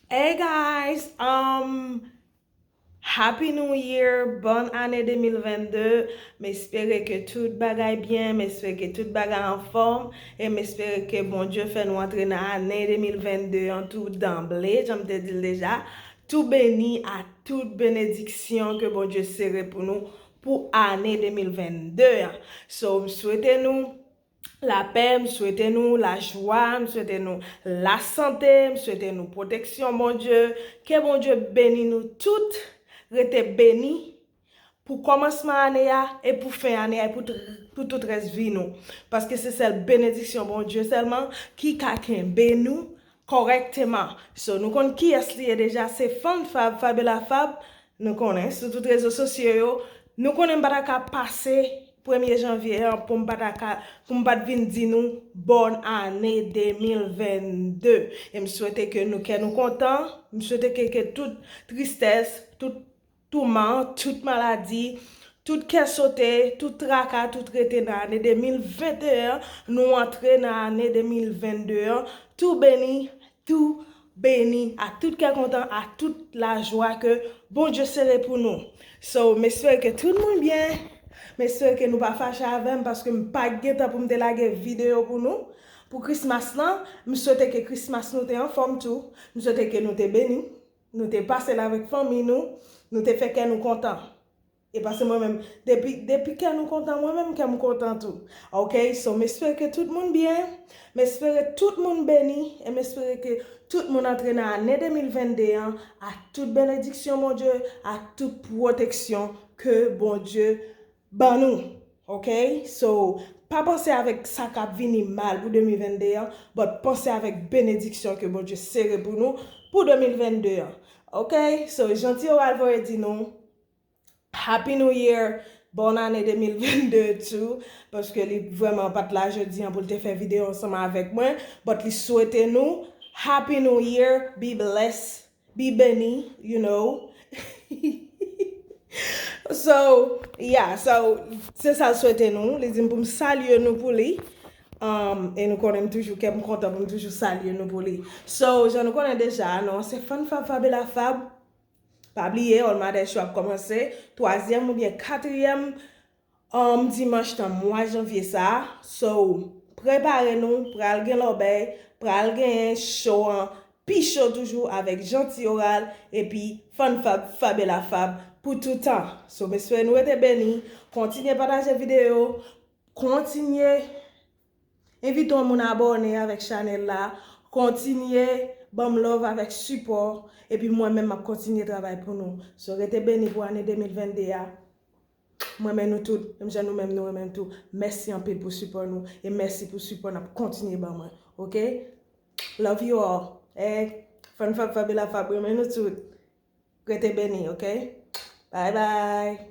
Hey guys um Happy new year Bòn ane 2022 M espere ke tout bagay byen M espere ke tout bagay anfòm E m espere ke Bondye fè nou antre nan ane 2022 an tou danble Jan m te di l deja Tou beni a tout benediksyon ke Bondye sere pou nou pou ane 2022 an. So m swete nou lapè, m swete nou lajwa, m swete nou lasante, m swete nou pwoteksyon Bondye. Ke Bondye beni nou tout. Rete beni. pou kòmansman ane a e pou fen ane a e pou tout rès vi nou. Paske se sèl benediksyon Bondye sèlman ki ka kenbe nou kòrèkteman. So nou konn kiyès li ye deja, se Fann Fab, Fabela Fab, nou konnen, sou tout rezo sosyo yo. Nou konnen m pa ta ka pase premye janvye an pou m pa ta ka, pou m pa t vin di nou bòn ane 2022. E m swete ke nou kè nou kontan, m swete ke tout tristès, tout. Touman, tout maladi, tout kè sote, tout traka, tout rete nan ane 2021 an, nou antre nan ane 2022 an, tou beni, tou beni, ak tout kè kontan, ak tout lajwa ke Bondye sere pou nou. So, m espere ke tout moun byen, m espere ke nou pa fache avè m paske m pa gen tan pou m te lage videyo pou nou pou Christmas lan. M swete ke Christmas nou te anfòm tou, m swete ke nou te beni. Nou te pase l avèk fanmi nou, nou te fè kè nou kontan. E pase mwen menm, depi, depi kè nou kontan mwen menm kè m kontan tou. Ok, so m espere ke tout moun byen, m espere tout moun beni e m espere ke tout moun antre nan ane 2022 an ak tout benediksyon Bondye, ak tout pwoteksyon ke Bondye Ban nou ok so pa panse avèk sa kap vini mal pou 2022 an but panse avèk benediksyon ke Bondye sere pou nou pou 2022 an ok so Jeanty Oral voye di nou Happy New Year Bòn ane 2022 tou paske li vrèman pat la jodi an pou l te fè videyo ansanm avèk mwen but li swete nou Happy New Year be blessed Be beni you know So yeah so se sal swete nou li dim poum salye nou pou li E nou konnen m toujou kèm kontan poum toujou salye nou pou li So jan nou konnen deja nou se Fann Fab Fabela Fab Pa bliye All Matters Show ap kòmanse twazyèm oubyen katriyèm Humm dimanch nan mwa janvye sa so prepare nou pral gen lòbèy pral genyen cho an pi cho toujou avèk Jeanty Oral epi Fann Fab Fabela Fab pou toutan so m espere nou rete beni kontinye pataje videyo kontinye envite yon moun abòne avèk chanèl la kontinye banm love avèk sipò epi mwen menm map kontinye travay pou nou so rete beni pou ane 2022 a. M renmen nou tout, menm jan nou menm nou renmen m tou. Mèsi anpil pou sipò nou e mèsi pou sipò n ap kontinye ban mwen. Ok! Love you all! Hey! Fann Fab Fabela Fab renmen nou tout! Rete beni, ok! Bye bye!